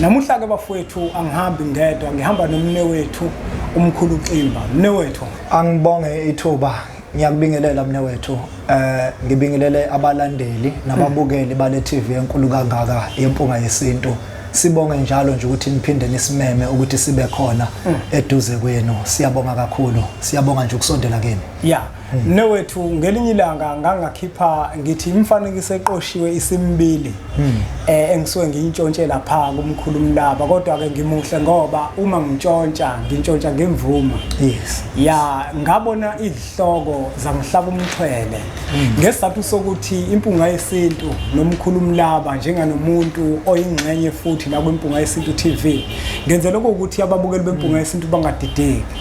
Namuhla-ke bafowethu angihambi ngedwa ngihamba nomne wethu umkhulu Ximba. Mne wethu. Angibonge ithuba ngiyakubingelela mne wethu eh ngibingelele abalandeli nababukeli bale TV enkulu kangaka yempunga yesintu sibonge njalo nje ukuthi niphinde nisimeme ukuthi sibe khona mm. eduze kwenu siyabonga kakhulu siyabonga nje ukusondela kini yeah Newethu ngelinye ilanga ngangakhipha ngithi imfanekiso eqoshiwe isimbili hmm. eh engisuke ngiyintshontshe lapha kumkhulu mlaba kodwa ke ngimuhle ngoba uma ngintshontsha ngintshontsha ngemvuma yes ya ngabona izihloko zangihlaba umthwele hmm. ngesizathu sokuthi impunga yesintu nomkhulu mlaba njenganomuntu oyingxenye futhi la kwimpunga yesintu TV ngenze lokho ukuthi ababukeli bempunga hmm. yesintu bangadideki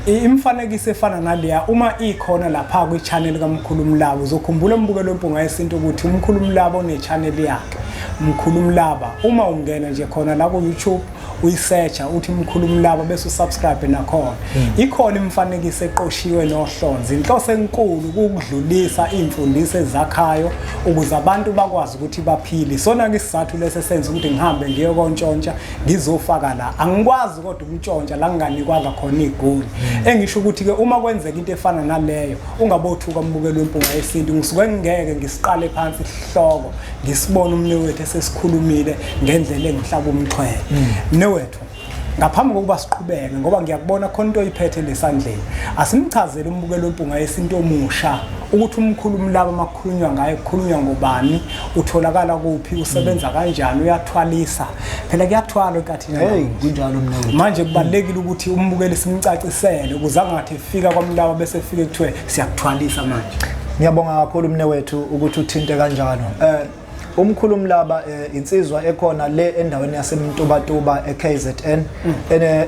Imifanekiso efana naleya uma ikhona lapha kwi-channel kaMkhulu Mlaba uzokhumbula umbukelo wempunga yesintu ukuthi uMkhulu Mlaba une-channel yakhe Mkhulu Mlaba uma ungena nje khona la ku-YouTube uyisearcha uthi Mkhulu Mlaba bese usubscribe nakhona hmm. ikhona imifanekiso eqoshiwe nohlonzi inhloso enkulu ukudlulisa imfundiso ezakhayo ukuze abantu bakwazi ukuthi baphile sona ke isizathu lese senza ukuthi ngihambe ngiyokontshontsha ngizofaka la angikwazi kodwa ukutshontsha la nginganikwanga khona igoli hmm. engisho ukuthi-ke uma kwenzeka into efana naleyo ungabothuka umbukeli wempunga yesintu ngisuke ngingeke ngisiqale phansi isihloko ngisibone umne wethu esesikhulumile ngendlela engihlaba umxhwele hmm. mne wethu ngaphambi kokuba siqhubeke ngoba ngiyakubona khona into oyiphethe lesandleni asimchazele umbukelo wempunga yesinto omusha ukuthi umkhulu umlaba makukhulunywa ngaye kukhulunywa ngobani utholakala kuphi usebenza kanjani uyathwalisa phela kuyathwala enkathini hey kunjalo mina manje kubalekile ukuthi umbukeli simcacisele ukuze angathi efika kwamlawa bese efike kuthiwe siyakuthwalisa manje ngiyabonga kakhulu mne wethu ukuthi uthinte kanjalo eh umkhulu umlaba eh, insizwa ekhona le endaweni yasemntubatuba eKZN mm.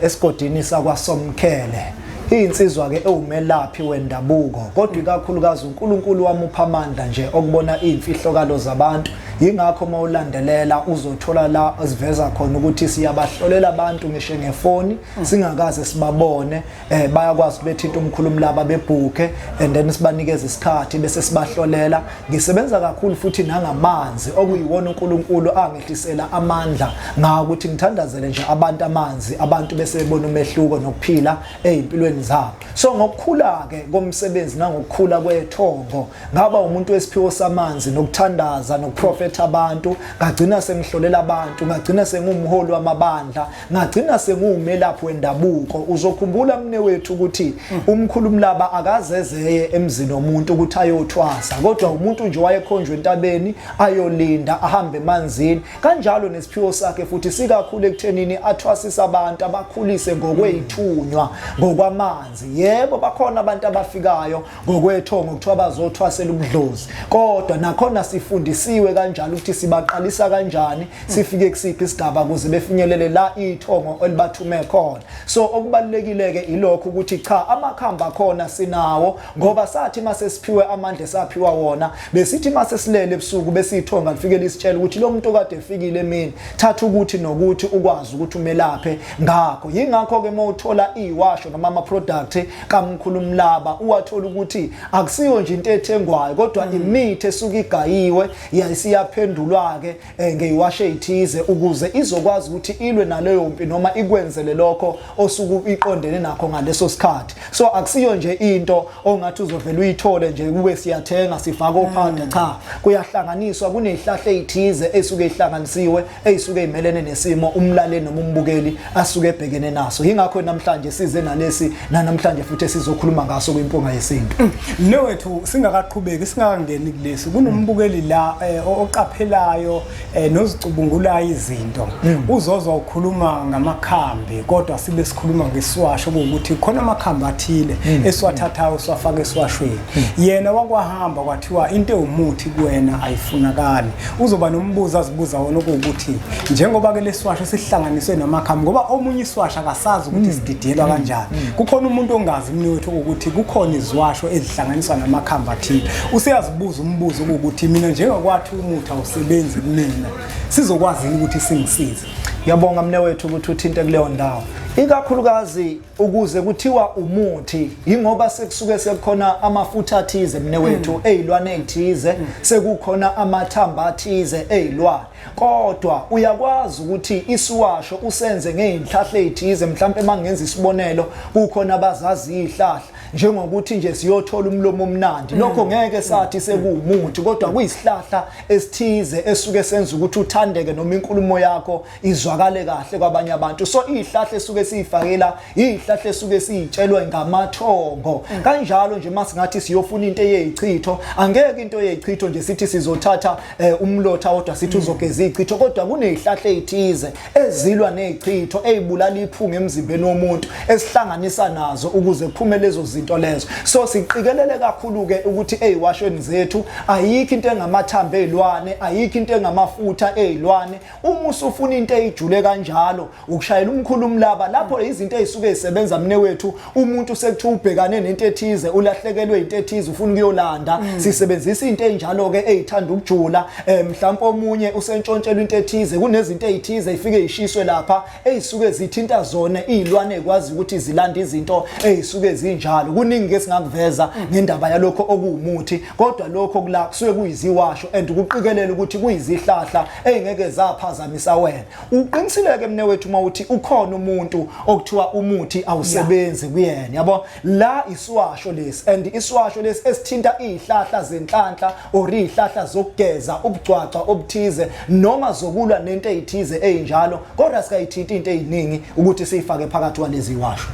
esigodini sakwasomkhele iyinsizwa ke ewumelaphi wendabuko kodwa ikakhulukazi uNkulunkulu wamupha amandla nje okubona izimfihlokalo zabantu Yingakho uma ulandelela uzothola la siveza khona ukuthi siyabahlolela abantu ngisho ngefoni mm. singakaze sibabone eh bayakwazi bethinta umkhulumi laba bebhuke and then sibanikeza isikhathi bese sibahlolela ngisebenza kakhulu futhi nangamanzi okuyiwona uNkulunkulu angehlisela amandla ngawo ukuthi ngithandazele nje abantu amanzi abantu bese bebona umehluko nokuphila ezimpilweni zabo so ngokukhula ke komsebenzi nangokukhula kwethongo ngaba umuntu wesiphiwo samanzi nokuthandaza nokuprofetha abantu ngagcina sengihlolela abantu ngagcina sengumholi wamabandla ngagcina senguwumelaphi wendabuko uzokhumbula mne wethu ukuthi umkhulumlaba akazezeye emzini womuntu ukuthi ayothwasa kodwa umuntu nje wayekhonjwe entabeni ayolinda ahambe emanzini kanjalo nesiphiwo sakhe futhi sikakhulu ekuthenini athwasise abantu abakhulise ngokweyithunywa ngokwamanzi yebo bakhona abantu abafikayo Ngokwethongo kuthiwa bazothwasela ubudlozi kodwa nakhona sifundisiwe kanjalo ukuthi sibaqalisa kanjani sifike kusiphi isigaba ukuze befinyelele la ithongo elibathume khona so okubalulekile ke ilokho ukuthi cha amakhamba khona sinawo ngoba sathi mase siphiwe amandla saphiwa wona besithi mase silele ebusuku besithonga lifikele isitshela ukuthi lo muntu kade efikile emini thatha ukuthi nokuthi ukwazi ukuthi umelaphe ngakho yingakho ke mawuthola iwasho noma ama product kaMkhulumlaba uwathola ukuthi akusiyo nje into ethengwayo kodwa mm. imithi esuke igayiwe yayisiyaphendulwa-ke um ngeyiwashe ithize ukuze izokwazi ukuthi ilwe naleyo mpi noma ikwenzele lokho osuke iqondene nakho ngaleso sikhathi so akusiyo nje into ongathi uzovele uyithole nje kube siyathenga sifake ophanda mm. cha kuyahlanganiswa kunezihlahla ezithize esuke ihlanganisiwe eyisuke imelene nesimo umlaleli noma umbukeli asuke ebhekene naso yingakho namhlanje size nalesi nanamhlanje futhi sizokhuluma ngaso kwimpunga yesintu mm. le wethu singakaqhubeki singakangeni kulesi kunombukeli la eh, oqaphelayo eh, nozicubungulayo izinto mm. uzozwa ukhuluma ngamakhambi kodwa sibe sikhuluma ngeswasho ukuthi khona amakhambi athile mm. esiwathathayo siwafaka esiwashweni yena wakwahamba kwathiwa into ewumuthi kuwena ayifunakali Uzoba nombuzo azibuza wona okuwukuthi njengoba ke leswasho sihlanganiswe namakhamu ngoba omunye iswasho akasazi ukuthi mm. sididiyelwa mm. kanjani. Mm. Kukhona umuntu ongazi mina wethu ukuthi kukhona izwasho ezihlanganiswa namakhamba athile. Useyazibuza umbuzo ukuthi mina njengakwathi umuthi awusebenzi kumina. Sizokwazi ukuthi singisize. Ngiyabonga mne wethu ukuthi uthinte kuleyo ndawo. Ikakhulukazi ukuze kuthiwa umuthi yingoba sekusuke sekukhona amafutha athize mne wethu mm. ezilwane ezithize mm. sekukhona amathamba athize ezilwane kodwa uyakwazi ukuthi isiwasho usenze ngeinhlahle ezithize mhlawumbe mangenza isibonelo kukhona abazazi izihlahla njengokuthi nje siyothola umlomo omnandi mm. lokho ngeke sathi sekuwumuthi kodwa kuyisihlahla esithize esuke senza ukuthi uthandeke noma inkulumo yakho izwakale kahle kwabanye abantu so izihlahla esuke siyifakela izihlahla esuke siyitshelwe ngamathongo mm. kanjalo nje masingathi siyofuna into eyeyichitho angeke into eyeyichitho nje sithi sizothatha eh, umlotha kodwa sithi mm. uzogeza izichitho kodwa kunezihlahla ezithize ezilwa nezichitho ezibulala iphunga emzimbeni womuntu esihlanganisa nazo ukuze kuphume lezo zinto lezo so siqikelele kakhulu ke ukuthi eziwashweni zethu ayikho into engamathambo ezilwane ayikho into engamafutha ezilwane uma usufuna into eyijule kanjalo ukushayela umkhulu umlaba lapho izinto ezisuke zisebenza mne wethu umuntu sekuthiwa ubhekane nento ethize ulahlekelwe into ethize ufuna ukuyolanda mm. sisebenzisa into enjalo ke ezithanda ukujula eh, mhlawumbe omunye usentshontshela into ethize kunezinto ezithize ifike ishiswe lapha eyisuke zithinta zona izilwane kwazi ukuthi zilanda izinto ezisuke zinjalo kuningi ke singakuveza ngendaba yalokho okuwumuthi kodwa lokho kula kusuke kuyiziwasho and ukuqikelela ukuthi kuyizihlahla ezingeke zaphazamisa wena uqinisile ke mne wethu uma uthi ukhona umuntu okuthiwa umuthi awusebenzi kuyena yabo la isiwasho lesi and isiwasho lesi esithinta izihlahla zenhlanhla or izihlahla zokugeza ubugcwaca obuthize noma zokulwa nento ezithize ezinjalo kodwa sikayithinta into eziningi ukuthi siyifake phakathi walezi washo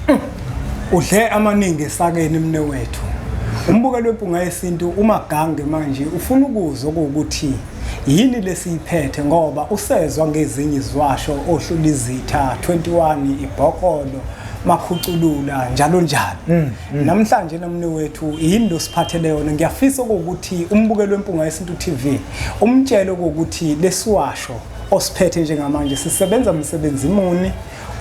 udle amaningi esakeni mne wethu umbukelo wempunga yesintu umagange manje ufuna ukuzwa ukuthi yini lesiyiphethe ngoba usezwa ngezinye izwasho ohlulizitha 21 ibhokolo makhuculula njalo njalo mm, mm. namhlanje nomne wethu yinto siphathele yona ngiyafisa ukuthi umbukelo wempunga yesintu TV umtshele ukuthi lesiwasho osiphethe njengamanje sisebenza umsebenzi muni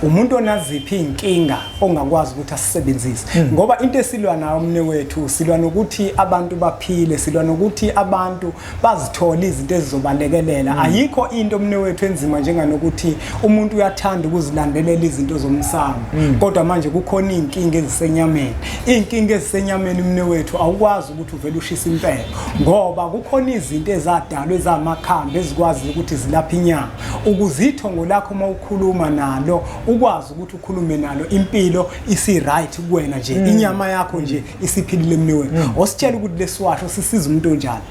umuntu onaziphi inkinga ongakwazi ukuthi asisebenzise hmm. ngoba into esilwa nayo umne wethu silwa nokuthi abantu baphile silwa nokuthi abantu bazithole izinto ezizobalekelela hmm. ayikho into omne wethu enzima njenganokuthi umuntu uyathanda ukuzilandelela izinto zomsamo hmm. kodwa manje kukhona izinkinga ezisenyameni izinkinga ezisenyameni umne wethu awukwazi ukuthi uvele ushisa impela ngoba kukhona izinto ezadalwa ezamakhambi ezikwazi ukuthi zilaphe inyama ukuzitho ngolakho uma ukhuluma nalo ukwazi ukuthi ukhulume nalo impilo isi right kuwena nje hmm. inyama yakho nje isiphilile mne wethu mm. ositshela ukuthi lesiwasho sisiza umuntu onjani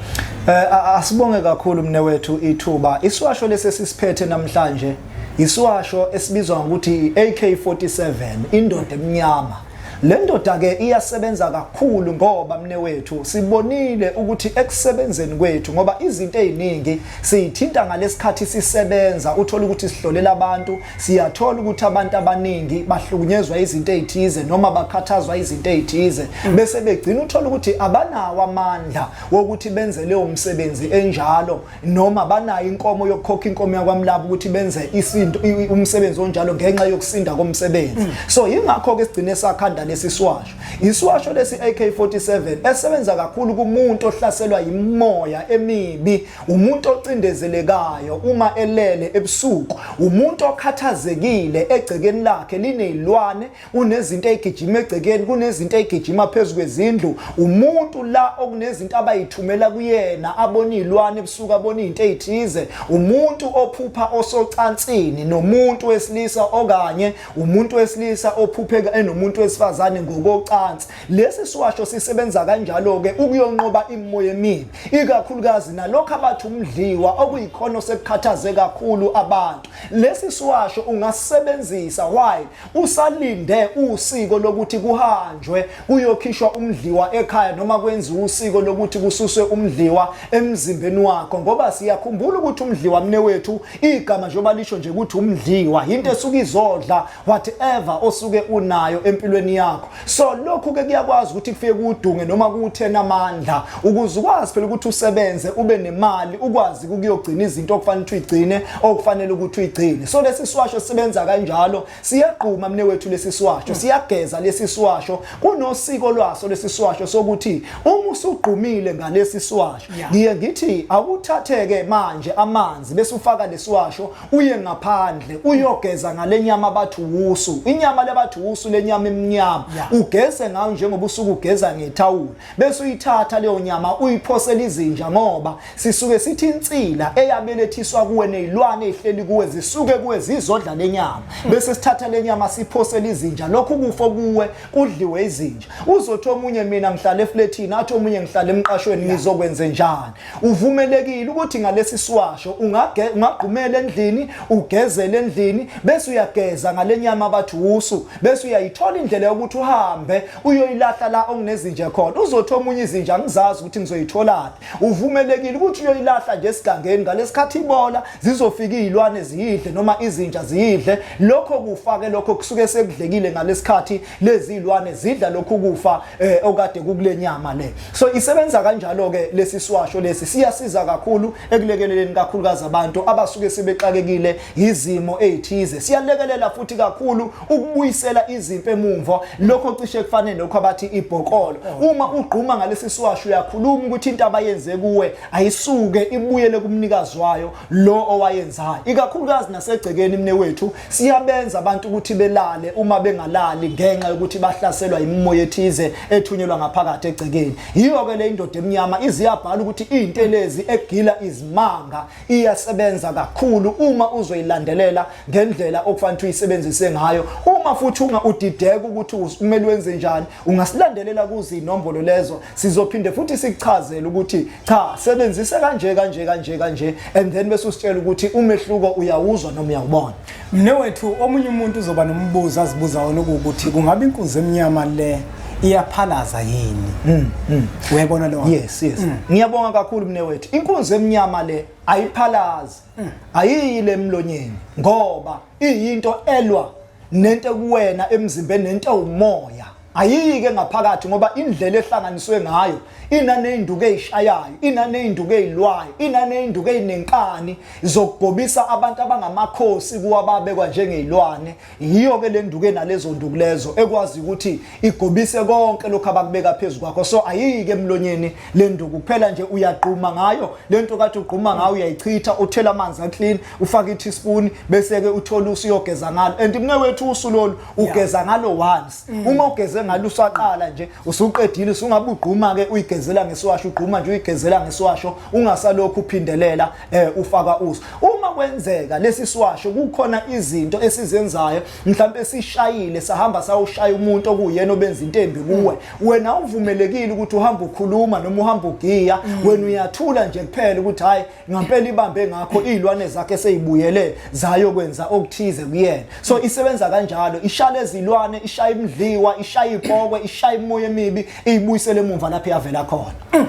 eh asibonge kakhulu mne wethu ithuba isiwasho lesesisiphethe namhlanje isiwasho esibizwa ngokuthi AK47 indoda emnyama le ndoda ke iyasebenza kakhulu ngoba mne wethu sibonile ukuthi ekusebenzeni kwethu ngoba izinto eziningi siyithinta ngalesikhathi sisebenza uthola ukuthi sihlolela abantu siyathola ukuthi abantu abaningi bahlukunyezwa izinto ezithize noma bakhathazwa izinto ezithize bese begcina uthola ukuthi abanawo amandla wokuthi benze leyo msebenzi enjalo noma banayo inkomo yokukhokha inkomo yakwamlaba ukuthi benze isinto umsebenzi onjalo ngenxa yokusinda komsebenzi mm. so yingakho ke sigcine sakhanda lesi siwasho isiwasho lesi AK47 esebenza kakhulu kumuntu ohlaselwa yimoya emibi umuntu ocindezelekayo uma elele ebusuku, umuntu okhathazekile egcekeni lakhe linezilwane, unezinto egijima egcekeni, kunezinto egijima phezu kwezindlu, umuntu la okunezinto abayithumela kuyena, abona izilwane ebusuku, abona izinto ezithize, umuntu ophupha osocansini nomuntu wesilisa okanye umuntu wesilisa ophuphe enomuntu wesifazane ngokocansi, Lesi siwasho sisebenza kanjalo-ke ukuyonqoba imimoya emibi, ikakhulukazi nalokho abathi umdliwa okuyikhona osekukhathaze kakhulu abantu. Lesi siwasho ungasisebenzisa while usalinde usiko lokuthi kuhanjwe kuyokhishwa umdliwa ekhaya noma kwenziwe usiko lokuthi kususwe umdliwa emzimbeni wakho ngoba siyakhumbula ukuthi umdliwa mne wethu igama njengoba lisho nje ukuthi umdliwa yinto esuke izodla whatever osuke unayo empilweni yakho so lokhu ke kuyakwazi ukuthi kufike kudunge noma kuthena amandla ukuze ukwazi phela ukuthi usebenze ube nemali ukwazi ukuyogcina izinto okufanele ukuthi uyigcine okufanele ukuthi uyigcine so lesi siwasho sisebenza kanjalo siyagquma mne wethu lesi siwasho siyageza lesi siwasho kunosiko lwaso lesi siwasho sokuthi uma usugqumile ngalesi siwasho ngiye ngithi awuthatheke manje amanzi bese ufaka lesiwasho uye ngaphandle uyogeza ngalenyama abathi wusu inyama lebathi wusu lenyama emnyama ugeze ngayo njengoba usuke ugeza ngethawula bese uyithatha leyo nyama uyiphosela izinja ngoba sisuke sithi insila eyabelethiswa kuwe nezilwane ezihleli kuwe zisuke kuwe zizodla lenyama hmm. bese sithatha lenyama siphosela izinja lokhu kufo kuwe kudliwe izinja uzothi omunye mina ngihlale efletini athi omunye ngihlale emqashweni ngizokwenze njani Uvumelekile ukuthi ngalesi siwasho ungagqumela endlini, ugezele endlini, bese uyageza ngale nyama abathi wusu, bese uyayithola indlela yokuthi uhambe uyoyilahla la okunezinja khona. Uzothi omunye izinja ngizazi ukuthi ngizoyitholaphi. Uvumelekile ukuthi uyoyilahla nje esigangeni ngalesikhathi ibola zizofika izilwane ziyidle noma izinja ziyidle. Lokho kufake lokho kusuke sekudlekile ngalesikhathi lezi ilwane zidla lokhu kufa eh, okade kukule nyama le so isebenza kanjalo ke lesi siwasho lesi siyasiza kakhulu ekulekeleleni kakhulukazi abantu abasuke sebexakekile izimo ezithize siyalekelela futhi kakhulu ukubuyisela izimpi emumva lokho cishe kufanele lokho abathi ibhokolo oh. uma ugquma ngalesi siwasho uyakhuluma ukuthi into abayenze kuwe ayisuke ibuyele kumnikazi wayo lo owayenzayo ikakhulukazi nasegcekeni mne wethu Siyabenza abantu ukuthi belale uma bengalali ngenxa yokuthi bahlaselwa imimoya ethize ethunyelwa ngaphakathi egcekeni. Yiyo ke le indoda emnyama iziyabhala ukuthi izintelezi egila izimanga iyasebenza kakhulu uma uzoyilandelela ngendlela okufanele uyisebenzise ngayo. Uma futhi unga udideka ukuthi umele wenze njani, ungasilandelela kuzinombolo lezo sizophinde futhi sikuchazele ukuthi cha sebenzise kanje kanje kanje kanje and then bese usitshela ukuthi umehluko uyawuzwa noma uyawubona mne wethu omunye umuntu uzoba nombuzo azibuza wona ukuthi kungabe inkunzi emnyama le iyaphalaza yini mm, mm. uyayibona lo yes yes mm. ngiyabonga kakhulu mne wethu inkunzi emnyama le ayiphalazi mm. ayiyi le mlonyeni ngoba iyinto elwa nento ekuwena emzimbeni nento ewumoya ayiyike ngaphakathi ngoba indlela ehlanganiswe ngayo inaneyinduku eyishayayo inaneyinduku eyilwayo inaneyinduku eyinenkani zokugobisa abantu abangamakhosi kuwa babekwa njengezilwane yiyo ke lenduku enalezo nduku lezo ekwazi ukuthi igobise konke lokho abakubeka phezulu kwakho so ayiyike emlonyeni lenduku kuphela nje uyagquma ngayo lento kathi ugquma ngayo uyayichitha uthela amanzi aclean ufake i-teaspoon bese-ke uthole usuyogeza ngalo and mne wethu usu lolu ugeza ngalo once mm. uma ugeze ngalo usaqala nje usuqedile usungabe ugquma-ke uyigezela ngesiwasho ugquma nje uyigezela ngesiwasho ungasalokhu uphindelela um ufaka usu uma kwenzeka lesi siwasho kukhona izinto esizenzayo mhlawumbe sishayile sahamba sawushaya umuntu okuyena obenza into embi kuwe mm. wena uvumelekile ukuthi uhambe ukhuluma noma uhambe ugiya mm. wena uyathula nje kuphela ukuthi hhayi ngampela ibambe ngakho izilwane zakhe seyibuyele zayokwenza okuthize kuyena so isebenza kanjalo ishale izilwane ishaya imdliwa ishaya ipokwe ishaya imoya emibi iyibuyisele emumva lapho yavela khona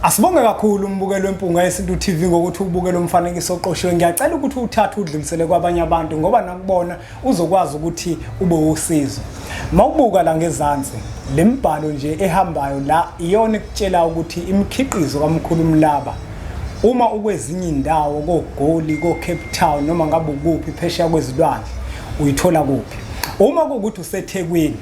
Asibonge kakhulu umbukelo wempunga yesintu TV ngokuthi ubukele umfanekiso oqoshiwe. Ngiyacela ukuthi uthathe udlulisele kwabanye abantu ngoba nakubona uzokwazi ukuthi ube usizo mawubuka la ngezansi le mbhalo nje ehambayo la iyona ekutshela ukuthi imikhiqizo kamkhulu mlaba uma ukwezinye indawo kogoli koCape Town noma ngabe ukuphi phesheya kwezilwandle uyithola kuphi uma kukuthi useThekwini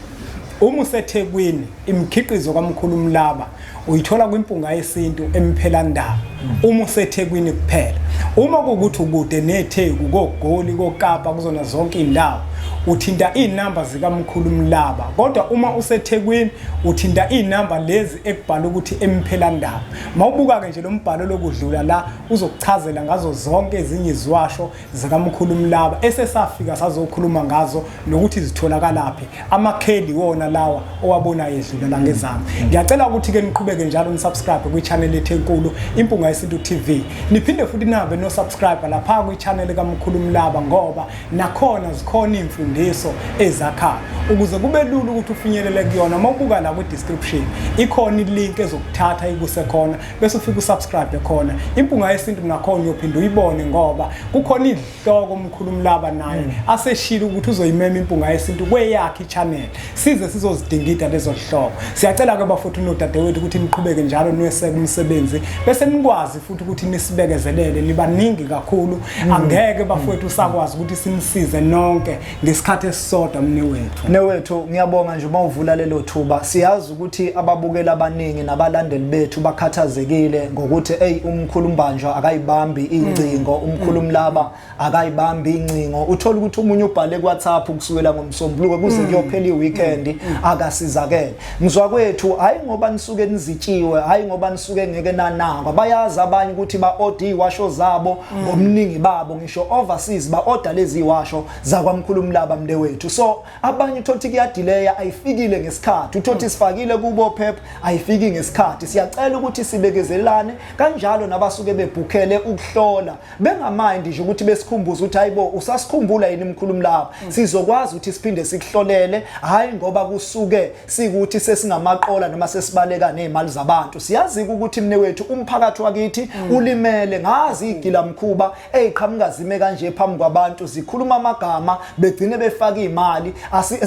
uma useThekwini Imikhiqizo kaMkhulu Mlaba uyithola kwimpunga yesintu emphelandaba uma usethekwini kuphela. Uma kuwukuthi ukude netheku kogoli kokapa kuzona zonke iy'ndawo uthinta iy'namba zikamkhulu Mlaba kodwa uma usethekwini uthinta iy'namba lezi ekubhala ukuthi emphelandaba. Mawubuka-ke nje lo mbhalo lokudlula la uzokuchazela ngazo zonke ezinye iziwasho zikamkhulu Mlaba esesafika sazokhuluma ngazo nokuthi zitholakalaphi amakheli wona lawa owabona yedlula la ngezami mm. ngiyacela ukuthi ke niqhubeke njalo nisubscribe kwi channel yethu enkulu impunga yesintu TV niphinde futhi nabe no subscribe lapha kwi channel kamkhulu Mlaba ngoba nakhona zikhona imfundiso ezakhayo ukuze kube lula ukuthi ufinyelele kuyona mawubuka la kwi description ikhona ilink ezokuthatha ikuse khona bese ufika usubscribe khona impunga yesintu nakhona uyophinde uyibone ngoba kukhona izihloko umkhulumlaba naye mm. aseshilo ukuthi uzoyimema impunga yesintu kweyakhe ichannel size sizozidingida lezo zihloko siyacela ke bafuthu nodadewethu ukuthi niqhubeke njalo niweseke umsebenzi bese nikwazi futhi ukuthi nisibekezelele nibaningi kakhulu mm. angeke bafowethu usakwazi ukuthi simsize nonke ngesikhathi esisodwa mnewethu mnewethu ngiyabonga nje uma uvula lelo thuba siyazi ukuthi ababukeli abaningi nabalandeli bethu bakhathazekile ngokuthi eyi umkhulu mbanjwa akayibambi ingcingo mm. umkhulu mm. mlaba akayibambi ingcingo uthola ukuthi umunye ubhale kuwhatsapp ukusukela ngoMsombuluko kuze mm. kuyophela iweekend akasizakele mzwa kwethu hayi ngoba nisuke nizitshiwe hayi ngoba nisuke ngeke nanakwa bayazi abanye ukuthi ba-od washo zabo ngomningi babo ngisho overseas ba order lezi washo zakwamkhulu umlaba mnde wethu so abanye uthothi kuyadileya ayifikile ngesikhathi uthothi sifakile kubo phep ayifiki ngesikhathi siyacela ukuthi sibekezelane kanjalo nabasuke bebhukele ukuhlola bengamind nje ukuthi besikhumbuza ukuthi hayibo usasikhumbula yini mkhulu umlaba mm. sizokwazi ukuthi siphinde sikuhlolele hayi ngoba kusuke sikuthi sesingamaqola noma sesibaleka nezimali zabantu siyazi ukuthi mne wethu umphakathi wakithi mm. ulimele ngazi igila mkhuba eziqhamuka zime kanje phambi kwabantu zikhuluma amagama begcine befaka imali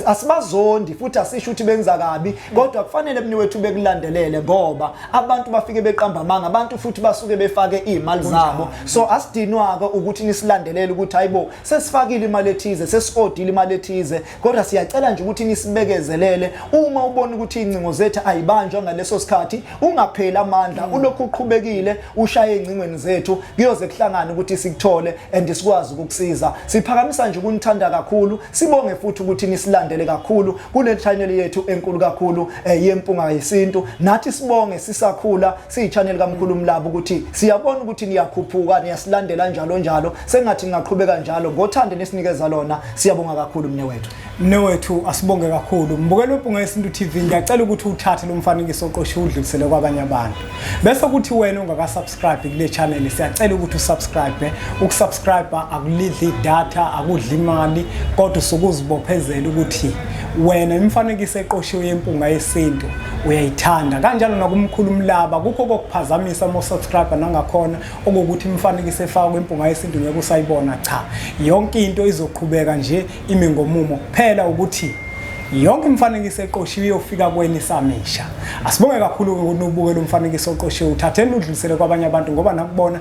asibazondi futhi asisho ukuthi benza kabi mm. kodwa kufanele mne wethu bekulandelele ngoba abantu bafike beqamba amanga abantu futhi basuke befake izimali zabo so asidinwaka ukuthi nisilandelele ukuthi hayibo sesifakile imali ethize sesiodile imali ethize kodwa siyacela nje ukuthi nisibekezelele uma ubona ukuthi incingo zethu ayibanjwa ngaleso sikhathi ungapheli amandla mm. ulokhu uqhubekile ushaye incingweni zethu kuyoze kuhlangane ukuthi sikuthole and sikwazi ukukusiza siphakamisa nje ukunithanda kakhulu sibonge futhi ukuthi nisilandele kakhulu kule channel yethu enkulu kakhulu eh, yempunga yesintu nathi sibonge sisakhula siyi-channel kamkhulu umlaba ukuthi siyabona ukuthi niyakhuphuka niyasilandela njalo njalo sengathi ningaqhubeka njalo ngothande nisinikeza lona siyabonga kakhulu mne wethu mne wethu asibonge kakhulu mbukela webhunga yesintu tv ngiyacela ukuthi uthathe lo mfanekiso oqoshe udlulisele kwabanye abantu bese kuthi wena ungakasubscribe kule channel siyacela ukuthi usubscribe ukusubscribe akulidli idatha akudli imali kodwa usukuzibophezela ukuthi wena imifanekiso eqoshiwe yempunga yesintu uyayithanda kanjalo nakumkhulu umlaba kukho kokuphazamisa ama subscriber nangakhona okukuthi imifanekiso efakwa kwempunga yesintu ngeke usayibona cha yonke into izoqhubeka nje ime ngomumo kuphela ukuthi yonke imifanekiso eqoshiwe iyofika kweni samisha asibonge kakhulu ukuthi ubuke lo mfanekiso oqoshiwe uthatheni udlulisele kwabanye abantu ngoba nakubona